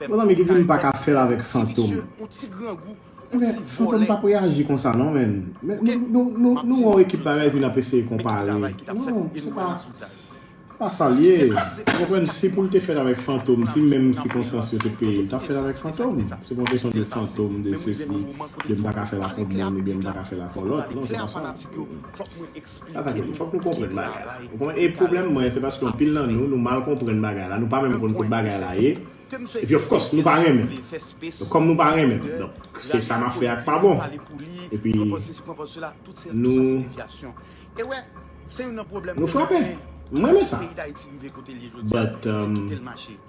Pèp Fantom ki di m pa ka fèl avèk Fantom. Ebyen Fantom pap reyaji konsa non menn. Nou wè yon ekip bagay epi nap eseye konpare. Non se pa se pa sa l ye. Ou konprann si pou l te fèt avèk Fantom si menm sikonstans yo te peye l tap fèl avèk Fantom. Se pa yon kesyon de Fantom de sesi de m pa ka fèl ak yon moun oubyen m pa ka fèl ak yon lòt. Non se pa sa. Tata Tony, fòk nou konprann bagay la. Ou konprann? E pwoblèm mwen, se paske anpil nan nou, nou mal konprann bagay la, nou pa menm konn kot bagay la ye, epi of course, nou pa renmen l. Donk, kòm nou pa renmen l, donk, se sa m ap fè a k pa bon. Epi, nou, nou frape. M renmen sa. But,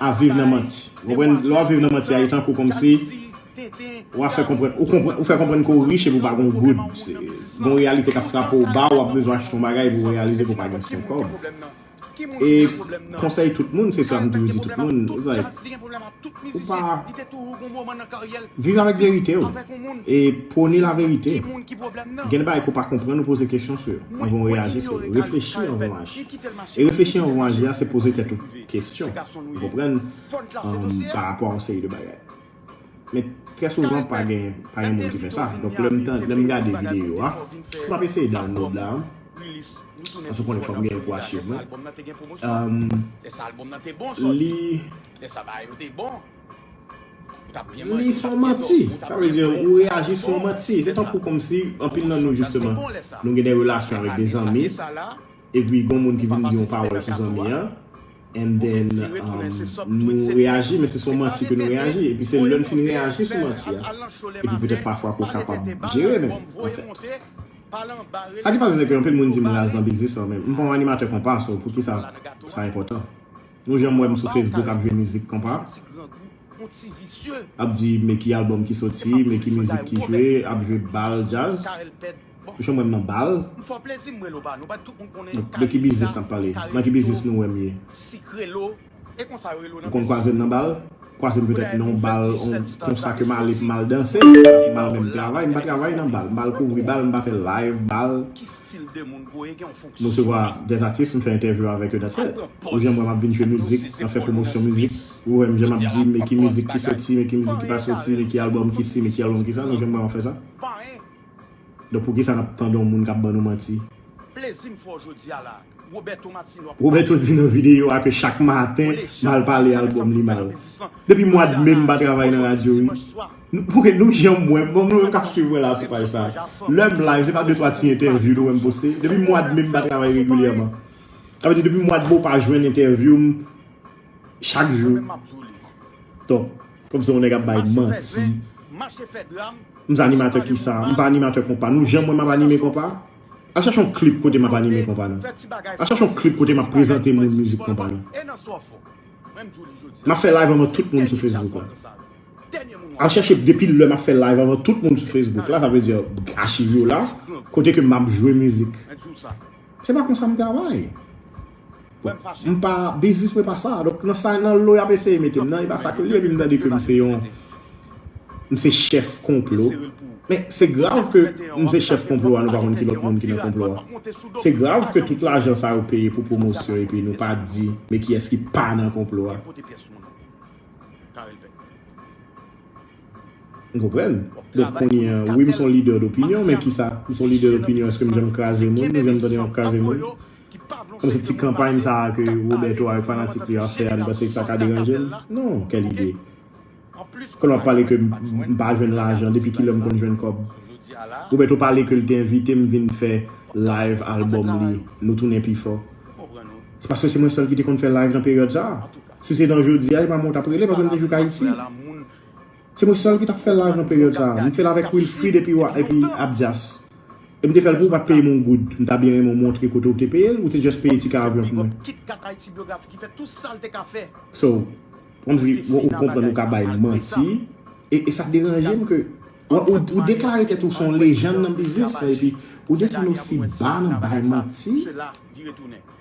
ap viv nan manti. Ou konprann? Lè wap viv nan manti a li tankou kòmsi ou ap fè konprann ou konprann ou fè konprann ke ou rich epi ou pa gon goud. Gon reyalite kap frape w ba ou ap bezwen achte yon bagay epi ou reyalize ke ou pa gen sen kòb. E konsèy tout moun se sa m toujou di tout moun it's like ou pa viv avèk verite w e pwone la verite. Gen de bagay ke w pa konprann ou poze kesyon sou yo anvan ou reyaji sou yo. Reflechi anvan w aji. E reflechi anvan w aji a se poze tèt ou kesyon, ou konprann, pa rapò a yon seri de bagay. Men, trè souvan pa gen moun ki fè sa. Donk, lè m gade videyo a, m ap eseye download la, paske w konnen fò m gen l pou achiv mwen. Li se yon manti. Sa vle di, ou reyaji sou yon manti. Se tankou kòmsi anpil nan nou jisteman, nou gen de relasyon avèk de zanmi. Epi gon moun ki vin di yon pawòl sou zanmi an and then nou reyaji men se sou yon manti ke nou reyaji epi se lè nou fin reyaji sou manti a epi petèt pafwa ke w kapab jere men anfèt sa ki pase se ke anpil moun di m raz nan biznis lan men m pa yon animatè konpa so poukisa sa enpòtan nou janm wè m sou facebook ap jwe mizik konpa ap di me ki album ki soti me ki mizik ki jwe ap jwe bal djaz. Bon jan mwen manbal. M fò plezi m relo banou bat tout moun konnen kare lisa. De ki biznis nap pale? Nan ki biznis nou wèm ye? Sik relo e konsa yo relo nan biznis. Ou konn kwazem nan bal? Kwazem petèt nan yon bal konsa ke m ale pou m al danse m al menm travay m pa travay nan bal m pa al kouvri bal m pa fè live bal. Ki stil de moun bro e gen yon fonksyon. M resevwa des atis m fè entèvyou avèk yo that's it. Ou jan m wè map vin jwe mizik nan fè pwomosyon mizik ou wèm jan map di men ki mizik ki soti men ki mizik ki pa soti men ki album ki si men ki album ki sa nou jan m wè map fè sa. Donk poukisa nap tande yon moun kap ban nou manti. Plezi m fè w jodi a la. Roberto Martino ap pale. Roberto di nan videyo a ke chak maten mal pale album li mal. Depi mwad me m pa travay nan radyo wi. Ok nou janm wè m, bon nou menm kap swiv mwen la sou paj sa. Lè m live se pa 2 3 ti entèvyou nou wè m poste. Depi mwad me m pa travay regilyèman. Sa vle di depi mwad me w pa jwenn entèvyou m. Chak jou Ton Kòm se yon nèg ap bay manti M se animatè kisa M pa animatè konpa Nou jan m wè m ap anime konpa Al chache yon klip kote m ap anime konpa non Al chache yon klip kote m ap prezante moun mizik konpa non M ap fè live anvan tout moun sou Facebook la Al chache depi lè m ap fè live anvan tout moun sou Facebook la sa vle di achiv yo la kote ke m ap jwe mizik Se pa konsa m travay M pa, biznis mwen pa sa. Donk nan sa, nan lo y ap eseye mete m nan, e pa sa ke li. Epi m tande ke m se yon, m se chèf konplo. Men, se grav ke m se chèf konplo a, nou pa konn ki lòt moun ki nan konplo a. Se grav ke tout lajan sa yo peye pou pwomosyon epi nou pa di, men kiyès ki pa nan konplo a. Ou konprann? Donk kounye a, wi m se yon lidè dopinyon, men kisa? M se yon lidè dopinyon, èske m janm kraze moun? Nou janm tande m ap kraze moun? Bon se ti kanpay sa a ke Roberto avèk fanatik li yo ap fè a nou panse ke sa ka deranje l? Non, kèl ide. Kòl wap pale ke m pa jwenn lajan, depi kilè m konn jwenn kòb? Roberto pale ke l te envite m vin fè live album li Nou Tounen Pi Fò. Se paske se mwen sèl ki te konn fè live nan peryòd sa a. Si se nan jodi a, se pa mwen ou tap rele paske m te jouk Ayiti. Se mwen sèl ki tap fèl lajan peryòd sa. M fèl avèk Wilfrid epi Abdias. E m te fèl pou ou pat peyem yon goud. M ta byen renmen ou montre kote ou te peyel ou te just peye ticket avyon pou mwen. So, kòmsi ou konprann ou ka bay manti. E sa deranjem ke ou deklare tèt ou son lejann nan biznis lan epi ou desann osi ba nan bay manti.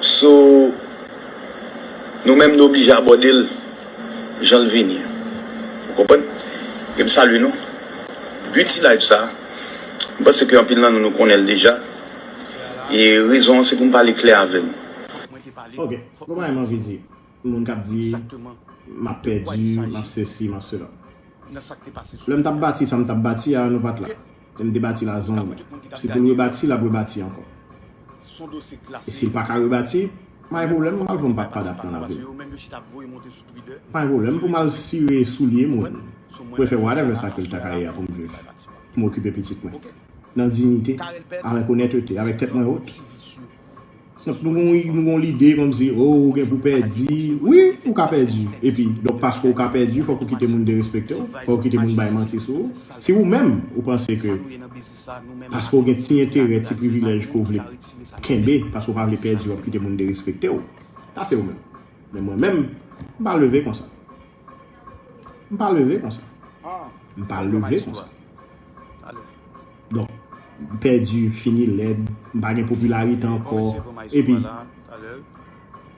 So nou menm nou oblije abòde l jan l vini. Ou konprann? E m salye nou. But ti live sa, m panse ke anpil nan nou nou konnen l deja. E rezon an se pou m pale klè avè nou. Ok, konpa e m anvi di. moun kap di map pèdi, map sesi, map sela. Lè m tap bati sa m tap bati a, nou pat la. Lè m te bati la zonw mwen. Si pou l rebati, lap rebati ankò. E si l paka rebati, pa gen pwoblèm mwen pral pran bak padap nan lavi m. Pa gen pwoblèm pou m al sire soulye moun, pou l fè whatever sa ke l ta ka ye a pou m viv, pou m okipe pitit mwen. Nan dignite, avèk onètete, avèk tèt mwen wot. Donk nou gen yon nou gen yon lide kòmsi o ou gen pou pèdi, wi ou ka pèdi epi donk paske ou ka pèdi fòk ou kite moun derespekte w, fòk ou kite moun bay manti sou ou. Si ou menm ou panse ke paske ou gen ti enterè, ti privilèj ke w vle kenbe paske ou pa vle pèdi w ap kite moun derespekte w, sa se ou menm. Men mwen menm, m pa leve konsa. M pa leve kon sa. M pa leve kon sa. Don, m pèdi, m fini lèd, m pa gen popilarite ankò. E pi,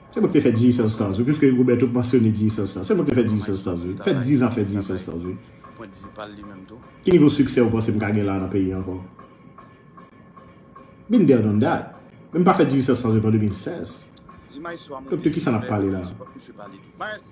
se mwen ki te fè Dizzy Sèl Stars wi, piske Roberto te mansyone Dizzy Sèl Stars. Se mwen ki te fè Dizzy Sèl Stars wi. Fè 10 an fè Dizzy Sèl Stars wi. Ki nivo siksè ou panse m ka gen la nan peyi an ankò? Been there done that. Men m pa fè Dizzy Sèl Stars depi an 2016. Donk de kisa n ap pale la?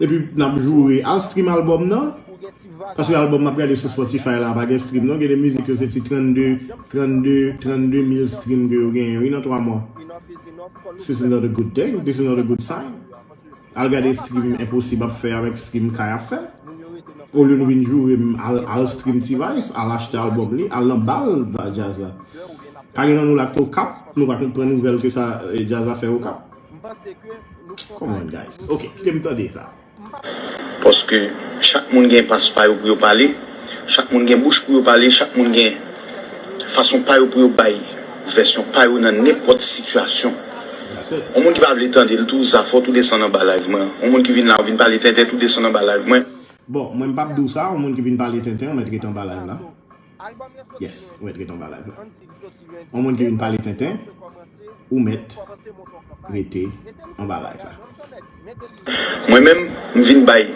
Epi nap joure al stream album nan Paske album map gade sou Spotify la pa gen stream non Gen de mizik yo se ti 32 32 32 mil stream ke yo genyen wi nan 3 mwa This is not a good thing This is not a good sign Al gade stream enposib ap fè avèk stream kay ap fè Olye nou vin joure m al stream T-vice al achte album li al nan bal djaz la Pa gen nan nou la ki t okap nou pa konprann nouvèl ke sa djaz la fè okap. Come on guys ok kite m tande sa. Paske chak moun gen pas pa yo pou yo pale, chak moun gen bouch pou yo pale, chak moun gen fason pa yo pou yo bay vèsyon pa yo nan nenpòt sitiyasyon. Yon moun ki pa vle tande l tou zafò tou desann anba live mwen an. Yon moun ki vin la ou vin pale tenten tou desann anba live mwen. Bon mwen m pap di w sa yon moun ki vin pale tenten ou mèt ret anba live la. Album lan soti Yes, ou mèt ret an ba live la. Andy li soti Lundi. On moun ki vin pale tenten, ou mèt rete an ba live la. Mwen menm m vin bay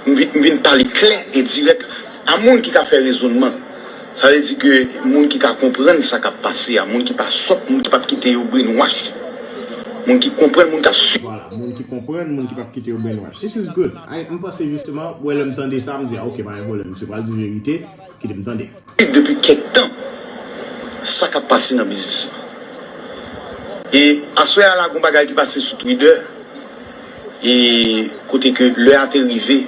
m vin pale klè e dirèk a moun ki ka fè rezonman sa vle di ke moun ki ka konprann sa kap pase a moun ki pa sòt moun ki pap kite yo brainwash moun ki konprann moun kap swiv. Vwala moun ki konprann moun ki pap kite yo brainwash this is good. Ay m panse jisteman wè lèm tande sa m di a ok pa gen pwoblèm misye pral di verite kite m tande. Depi kèk tan sa kap pase nan biznis lan e aswè a la gon bagay ki pase sou twidè e kote ke lè a te rive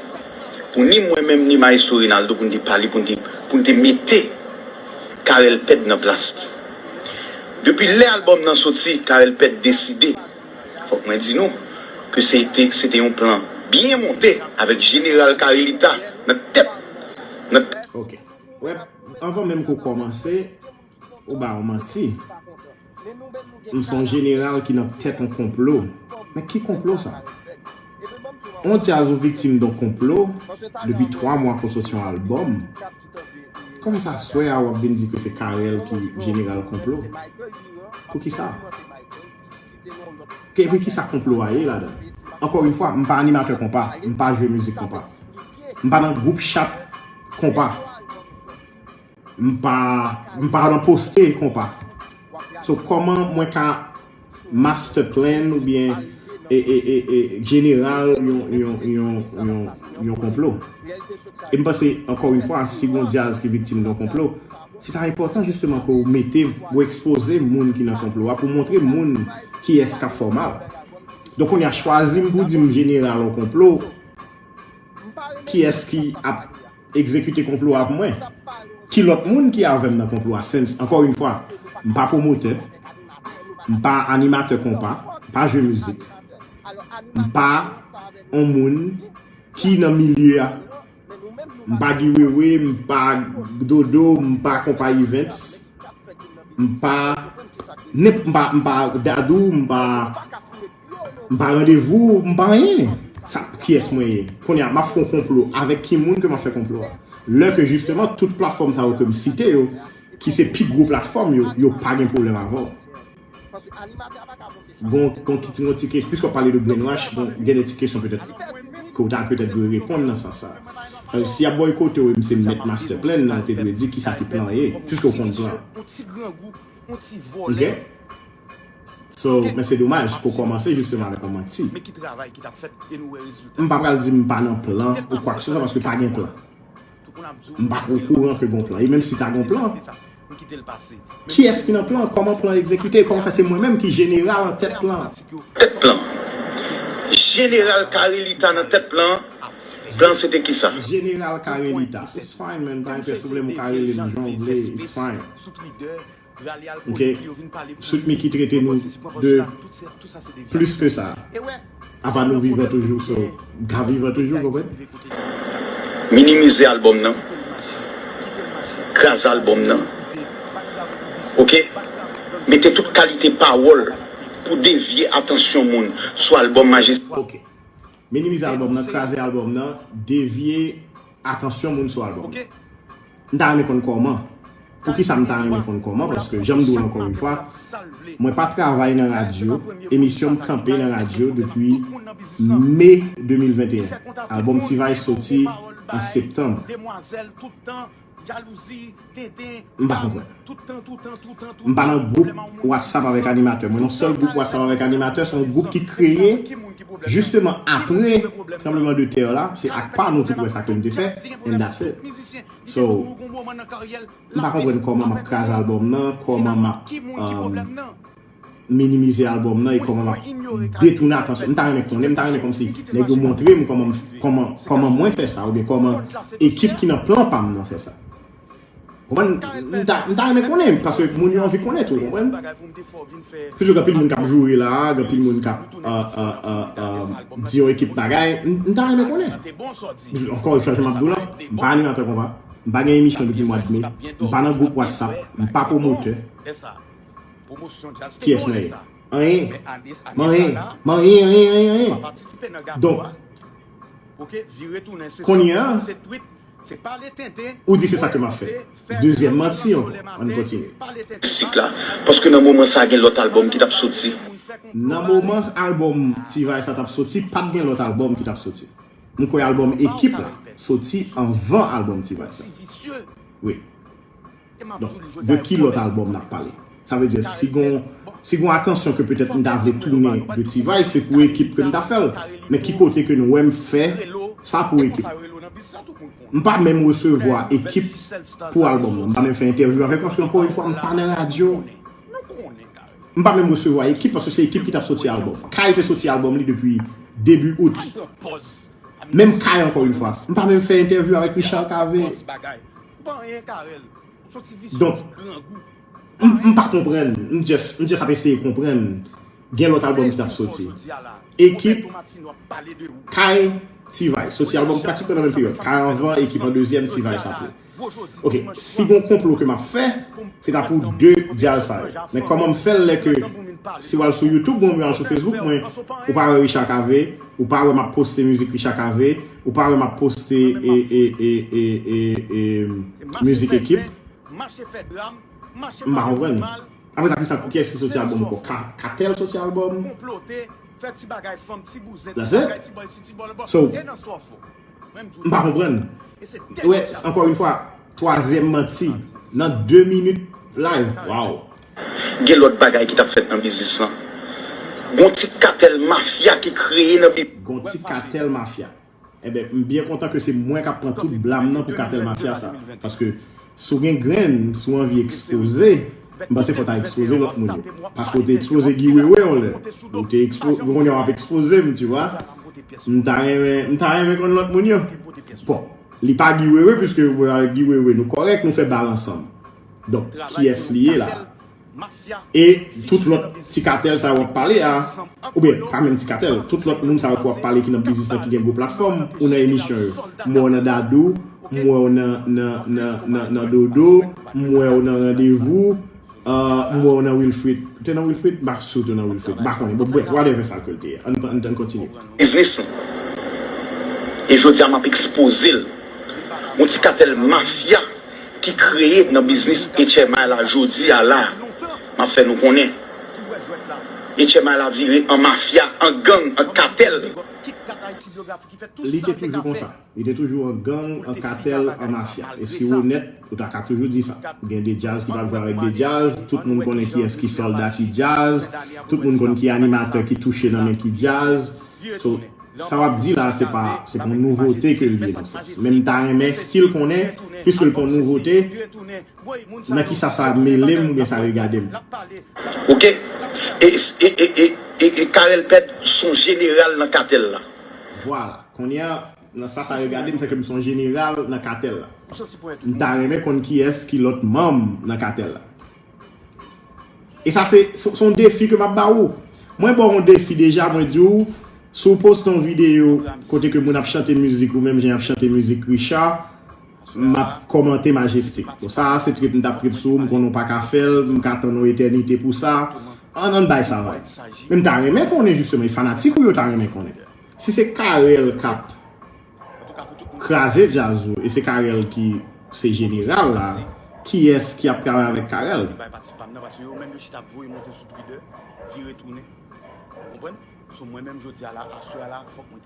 pou ni mwen menm ni maestro Renaldo pou n te pale pou n te mete Carel Pèd nan plas li depi lè albòm nan soti Carel Pèd deside Fòk mwen di nou ke se te se te yon plan byen monte avèk jeneral Carelita nan tèt nan tèt. Ok wè anvan menm ke w kòmanse ou ba yon manti m son jeneral ki nan tèt yon konplo men ki konplo sa? On djaz ou viktim don konplo depi 3 mwa pou w soti yon albòm kòman sa aswè a wap vin di ke se Carel ki jeneral konplo? Poukisa? Ke epi kisa konplo a ye ladan? Ankò yn fwa, m pa animatè konpa, m pa jwe mizik konpa. M pa nan gwoup chat konpa. M pa, m pa nan poste konpa. So kòman mwen ka master plan oubyen e, e, e, e, general yon, yon, yon, yon, yon konplo? E m panse, ankò yn fwa, si gon dyaz ki viktim don konplo, Se ta enpòtan jisteman pou ou mete, pou ou ekspoze moun ki nan konplo a, pou ou montre moun kiyès k ap fè w mal. Donk kounye a, chwazi m pou w di m jeneral yon konplo, kiyès ki ap egzekite konplo a avm mwen? Ki lòt moun ki avè m nan konplo a? Since, ankò yn fwa, m pa pwomotè, m pa animatè konpa, m pa jwe mizik, m pa yon moun ki nan milye a, M pa Guy Wewe, m pa Dodo, m pa Konpa Events, m pa m pa Dadou, m pa m pa Randevou, m pa anyen. Sa kiyès mwen ye? Kounye a, m ap fè yon konplo. Avèk ki moun ke m ap fè konplo a? Lè ke jisteman tout platfòm sa yo ke m site yo, ki se pi gwo platfòm yo, yo pa gen pwoblèm avè w. Gon kon ki ti yon ti kes, piske w pale de brainwash, bon gen de ti kesyon petèt ke w ta petèt dwe reponn nan sans sa. Si y ap bòykote w e m se mèt master plan nan, w te dwe di ki sa ki plan an ye, piske w konn plan an. Ok? So, men se domaj ke w kòmanse jisteman avèk yon manti. M pa pral di m pa nan plan ou kwak se swa paske pa gen plan. M pa t okouran ke gon plan. E menm si ta gon plan, kiyès ki nan plan an? Kòman plan an egzekite? Kòman fè se mwen menm ki jeneral an tèt plan an? Tèt plan? Jeneral Carelita nan tèt plan an? Plan an se te kisa? Jeneral Carelita, It's fine man, pa gen pwoblèm ou ka rele m jan w vle, it's fine. Ok sweet micky trete nou de plis ke sa apa nou vivan toujou so mka vivan toujou konprann. Minimize album nan, kraze album nan ok mete tout kalite pawòl pou devye atansyon moun sou album majestic. Minimize albòm nan, kraze albòm nan, devye atansyon moun sou albòm nan. M ta renmen konn kòman. Poukisa m ta renmen konn kòman? Paske jan m di w l ankò yon fwa, mwen pa travay nan radyo, emisyon m kanpe nan radyo depi Me 2021. Albòm T-Vice soti an Septanm. M pa konprann. M pa nan gwoup WhatsApp avèk animatè mwen non. Sèl gwoup WhatsApp avèk animatè se yon gwoup ki kreye jisteman apre tranbleman de tè la. Se ak pa nou tout wè sa ke m te fè and that's it. So, m pa konprann kòman m ap kraze albòm nan, kòman m ap. minimize album nan e kòman map detoune atansyon m ta renmen konnen m ta renmen kòmsi nèg yo montrem kòman kòman mwen fè sa oubyen kòman ekip ki nan plan pam nan fè sa ou konprann m ta m ta renmen konnen paske moun yo anvi konnen tou ou konprann se jou gen anpil moun kap joure la gen anpil moun kap di yon ekip bagay m ta renmen konnen ankò yon fwa jan map diw lan m pa animatè konpa m pa gen emisyon depi mwad me m pa nan gwoup whatsapp m pa pwomotè Pyès nan yo. Anyen. Manyen. Manyen anyen anyen anyen. Donk. Kounye a. Ou di se sa ke m ap fè. Dezyèm manti ankò. An n kontinye. Sik la. Paske nan moman sa gen lòt albòm ki t ap soti. Nan moman albòm T-vice la t ap soti, pa t gen lòt albòm ki t ap soti. M kwè albòm Ekip la soti anvan albòm T-vice la. Wi. Donk, de ki lòt albòm n ap pale? Sa vle di, si gon si gon atansyon ke petèt m ta vle tounen de T-Vice, se pou ekip ke m ta fè l. Men ki kote ke n wè m fè sa pou ekip? M pa menm resevwa ekip pou albòm nan. M pa menm fè entèvyou avèk yo paske ankò yon fwa m pa nan radyo. M pa menm resevwa ekip paske se ekip ki t ap soti albòm. Kay te soti albòm li depi debi out. Menm Kay ankò yon fwa. M pa menm fè entèvyou avèk Richard Cavé. Ou pa anyen Carel. Ou son ti visye ti grangou. M pa konprann, m just ap eseye konprann gen lòt album ki tap soti. Ekip Kay T-vice soti album pratikman nan menm peryòd. Kay anvan, Ekip an dezyèm, T-vice apre. Ok, si gon konplo ke map fè, se ta pou 2 djaz sa yo. Men kòman m fèl lè ke si wal sou YouTube mwen oubyen wal sou Facebook mwen, ou pa wè Richard Cavé, ou pa wè map poste mizik Richard Cavé. Ou pa wè map poste music ekip. Mpa konprann. Apre sa kisa kiyes ki soti album anko? Katel soti album? That's it? So, mpa konprann. Ou wè, ankò yon fwa. Twazyèm manti nan 2 minit live waww. Gen lòt bagay ki tap fèt nan biznis lan. Gon ti katèl mafya ki kreye nan biznis. Gon ti katèl mafya. Enben m byen kontan ke se mwen kap pran tout blam nan pou katèl mafya sa. Paske si w gen grenn, si w anvi ekspoze, m panse fò w ta ekspoze lòt moun yo. Paske w te ekspoze Guy Wewe yon lè. Ou te ekspoze, kounye a w ap ekspoze m tu vois. M ta renmen, m ta renmen konn lòt moun yo. Bon. Li pa Guy Wewe puiske yo pral avèk Guy Wewe nou kòrèk nou fè bal ansanm donk kiyès li ye la a e tout lòt ti katèl sa yo wap pale a oubyen pa menm ti katèl tout lòt moun sa yo ki wap pale ki nan biznis lan ki gen gwo platfòm ou nan emisyon yo m wè w nan Dadou m wè w nan nan nan nan Dodo m wè w nan Randevou Ahh m wè w nan Wilfrid. Ou te nan Wilfrid? M pa si w te nan Wilfrid. M pa konnen. Bon bref, whatever sa ke l te ye. Ann kontinye. Biznis nou. E jodi a m ap ekspoze l. Yon ti katèl mafya ki kreye nan biznis HMI la jodi a la a. M ap fè nou konnen. HMI la vire an mafya, an gang, an katèl. Li te toujou konsa? Li te toujou an gang, an katèl, an mafya. E si w onèt, ou ta ka toujou di sa. Gen de djaz ki pap jwe avèk de djaz, tout moun konnen kiyès ki sòlda ki djaz, tout moun konn ki animatè ki touche nan men ki djaz. So, sa w ap di la a se pa, se pa yon nouvote ke l ye nan sans. Men m ta renmen stil konnen, piske l pa yon nouvote, nan kisa sa mele m oubyen sa regade m. Ok. E, e, e, e, e, e Carel Pède s on jeneral nan katèl la? Vwala. Konnya nan sa sa regade m fè ke m son jeneral nan katèl la. M ta renmen konn kiyès ki lòt manm nan katèl la. E sa se son defi ke m ap ba ou. Mwen ba w yon defi deja mwen di w si w poste yon videyo kote ke moun ap chante mizik ou menm jan y ap chante mizik Richard m ap kòmante Majestic. Bon sa a se trip m t ap trip sou ou m konnen w pa ka fè l m ka tann yon etènite pou sa. An n bay sa vag. Men m ta renmen konnen jisteman e fanatik ou yo ta renmen konnen. Si se Carel kap kraze djaz ou e se Carel ki se jeneral la, kiyès ki ap travay avèk Carel?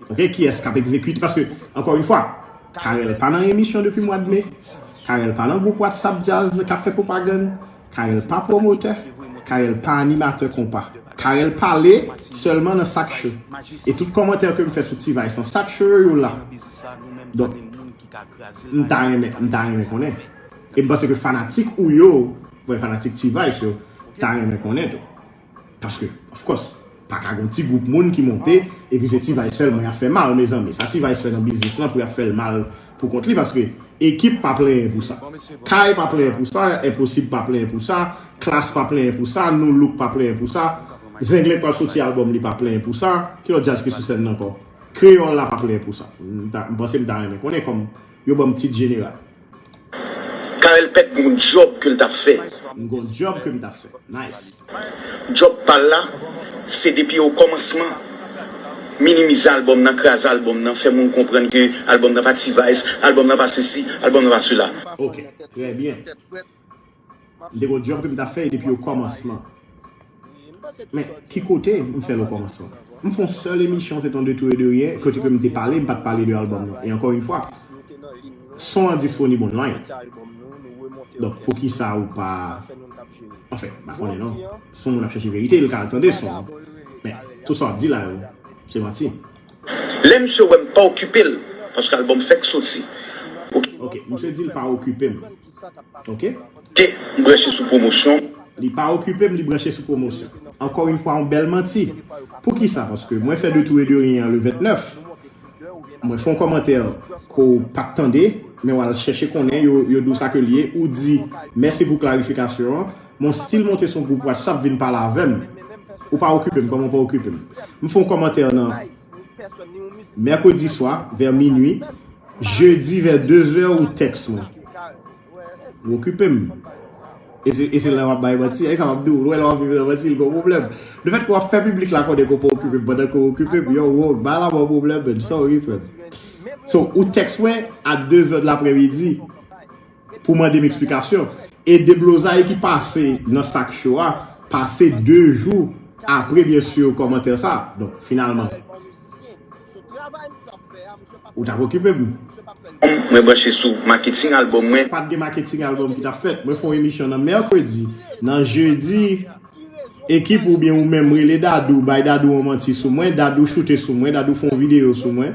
Ok, kiyès kap egzekite? Paske, ankò yon fwa, Carel pa nan emisyon depi mwad me, Carel pa nan gwoup WhatsApp djaz kap fè pwopagann. Carel pa pwomotè, Carel pa animatè konpa. Carel pale sèlman nan sak cho. E tout kòmantè ke m fè sou T-vice lan, sak cho yo yo la. Donk, m ta renmen, m ta renmen konnen. E m panse ke fanatik ou yo, fanatik T-vice yo, ta renmen konnen tou. Paske of course paka gon ti group moun ki monte epi se T-vice sèlman yap fè mal mezanmi sa T-vice fè nan biznis lan pou yap fèl mal pou kont li paske ekip pa plenyen pou sa kay pa plenyen pou sa enposib pa plenyen pou sa klass pa plenyen pou sa nu look pa plenyen pou sa zenglen k pral soti album li pa plenyen pou sa ki lòt djaz ki sou sèn nan ankò kreyòl la pa plenyen pou sa m panse m ta renmen konnen kòm yo banm tit jeneral. Carel pèt gon job ke l tap fè. M gon job ke m tap fè. Nice. Job pal la se depi o komansman minimize album nan kraze album nan fè moun konprann ke album nan pa T-vice album nan pa sesi album nan pa sela. Ok trè byen. M te gon djòb ke m ta fè depi o kòmansman. Men, ki kote m fè l o kòmansman? M fè on sèl emisyon, se te yon de tou e de ryen, kote ke m te pale, m pa t pale de albòm nan. E ankò yon fwa, son an disponib online. Donk, poukisa ou pa. Anfen, m pa konnen non. Si yon moun ap chèche verite, l ka al tande son an. Men, tout sa w ap di la yo, se manti. Lè misye wè m pa okipe l, paske albòm fèk soti. Ok, misye di l pa okipe m. Ok. K, M branche sou pwomosyon. Li pa okipe m, li branche sou pwomosyon. Ankò yon fwa yon bèl manti. Poukisa? Paske mwen fè de tou e de ryen an le 29. Mwen fè yon kòmantè ke w pa t tande, men w al chèche konnen, yo di w sa ke l ye. Ou di, Mèsi pou klarifikasyon an, men w stil monte sou yon gwoup whatsapp vin pale avè m. Ou pa okipe m, kòman w pa okipe m? M fè yon kòmantè nan. Mercredi swa, vè minwi, jedi vè dezè ou tèks mwen. Ou okipe m. E se lè w ap bay manti. E sa m ap di w, lè w ap viv nan manti, l gen yon pwoblèm. Lefètke w ap fè piblik la konnen ke w pa okipe m pandan ke w okipe m, yow ou bay lanmò pwoblèm menn. Sorry frè m. So, ou tèks mwen a dezè dlapremidi. pou mande m eksplikasyon e deblozay ki pase nan sak cho a pase 2 jou apre byen sur kòmantè sa donk finalman ou tap okipe m. Mwen branche sou maketing albòm mwen. Pat gen maketing albòm ki tap fèt. Mwen fè yon emisyon nan mèkredi. Nan jedi, ekip ou oubyen ou menm rele Dadou, bay Dadou yon manti sou mwen, Dadou choute sou mwen, Dadou fè yon videyo sou mwen.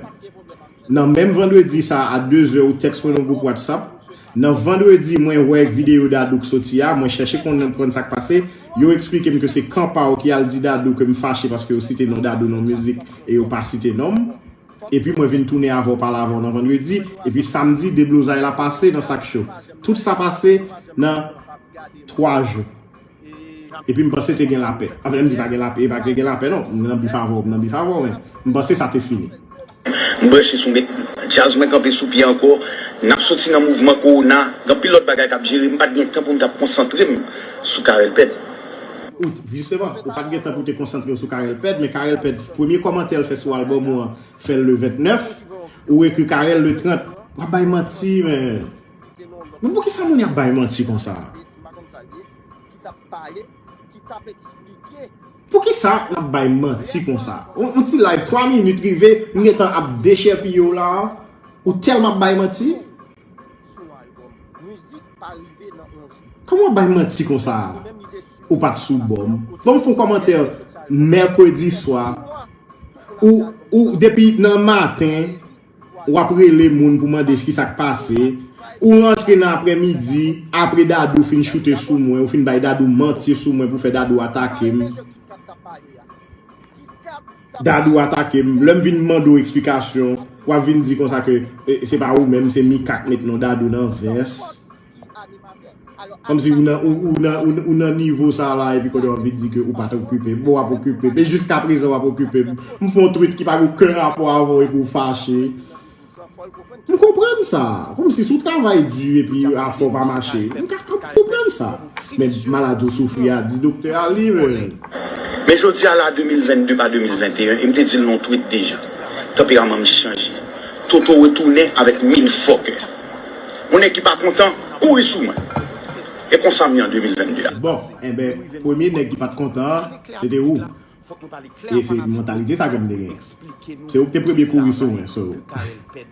Nan menm vandredi sa a 2 zè ou tèks mwen nan gwoup whatsapp, nan vandredi mwen wè videyo Dadou k soti a, mwen chèche konprann sak pase, yo eksplike m ke se kan pa w ki al di Dadou ke m fache paske yo site non Dadou nan mizik e yo pa site non m, epi mwen vin tounen avè w pale avè w nan vandredi, epi samdi deblozay la pase nan sak cho. Tout sa pase nan 3 jou. Epi m panse te gen lapè. Anfen, lè m di pa gen lapè, e pa te gen lapè non. M nan bif avè w, m nan bif avè w, men m panse sa te fini. M branche sou met djaz mwen kanpe sou pye ankò. N ap soti nan mouvman kowona, gen anpil lòt bagay k ap jere. M pa t gen tan pou m t ap konsantre m sou Carel Pèd. Out, Jisteman, ou pa t gen tan pou w te konsantre w sou Carel Pèd, men Carel Pèd, premye kòmantè l fè sou albòm ou an, fè l le 29. Ou ekri Carel le 30. W ap bay manti, men. Men poukisa moun y ap bay manti konsa a? Poukisa n ap bay manti konsa a? Yon ti live 3 minit rive, m gentan ap dechèpiye w la a, ou tèlman ap bay manti? Kòman w ap bay manti konsa a? Ou pa t sou bò m? Ban m fon kòmantè mèkredi swa, ou depi nan maten Wap rele moun pou mande skisak pase, ou rantre nan aprè midi apre Dadou fin choute sou mwen, ou fin bay Dadou manti sou mwen pou fè Dadou atake m, Dadou atake m, lèm vin mande w eksplikasyon wap vin di konsa ke se pa ou menm se Mika k met non Dadou nan vès. ki animatè. Kòm si ou nan nivo sa la epi kounye a w vin di ke ou pa t okipe m. Bon w ap okipe m. E jiska prezan w ap okipe m. M fè yon tweet ki pa gen oken rapò avè w epi w fache. M konprann sa. Kòm si si w travay di epi afè w pa mache. M konprann sa. Men maladi w soufri a di doktè a li menm. Men jodi a la 2022 pa 2021 e m te di l nan yon tweet deja, tanperaman m chanje. Toto retounen avèk mil fòkè. Yon nèg ki pa kontan kouri sou mwen. E konsa m ye an 2022 a. Bon, enben, premye nèg ki pa t kontan an, se te ou. E se mantalite sa ke m te genyen. Se ou ki te premye kouri sou mwen, so.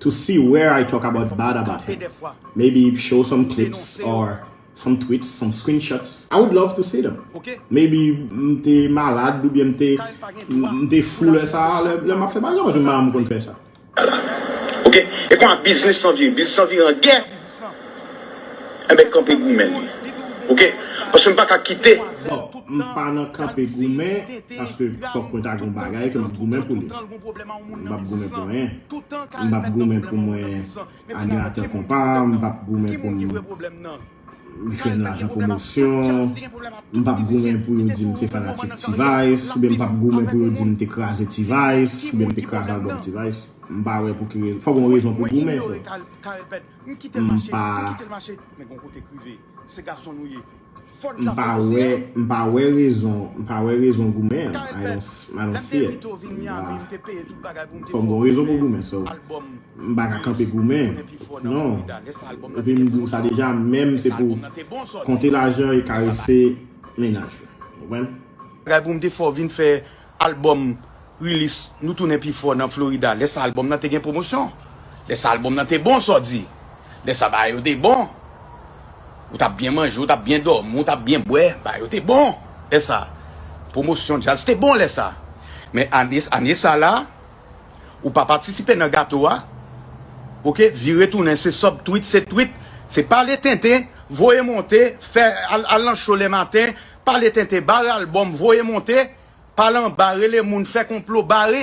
To see where I talk about bad about him. Maybe show some clips or some tweets, some screenshots. I would love to see them. Maybe m te malad oubyen m te m te fou lè sa a, lè m ap fè bagay. Paske marahn m konn fè sa. Ok. E konman biznis lan vire? Biznis lan vire an gè. Enben kanpe goumen. Ok. Paske m pa ka kite. Bon, m pa nan kanpe goumen paske fòk mwen ta gen yon bagay ke m ap goumen pou li. M pap goumen pou anyen. M pap goumen pou mwen animatè konpa. M pap goumen pou m fè lajan pwomosyon. M pap goumen pou yo di m se fanatik T-vice. Oubyen m pap goumen pou yo di m te kraze T-vice. Oubyen m te kraze albòm T-vice. M pa wè pou ki rezon. Fòk gen yon rezon pou goumen. M pa. Se gason nou ye. Fort la se mesye. M pa wè rezon, m pa wè rezon goumen an. I don't see it. Lèm te envitew vin Miami m te peye tout bagay poum te fè ou vin fè album M pa ka kanpe goumen. Non. Epi m diw sa deja menm se pou konte lajan e karese mennaj ou. Ou konprann? Bagay poum te fè ou vin fè Albòm Rilis Nou Tounen Pi Fò nan Florida Lè sa albòm nan te gen pwomosyon Lè sa albòm nan te bon sa w di Lè sa bagay yo te bon Ou t ap byen manje, ou t ap byen dòmi, ou t ap byen bwè Bagay yo te bon lè sa Pwomosyon djaz te bon lè sa Men ane ane sa la Ou pa patisipe nan gato a Ok vire tounen se sub tweet se tweet Se pale tenten voye monte fè Al nan show le maten pale tenten bare album voye monte pale anba rele moun fè konplo bare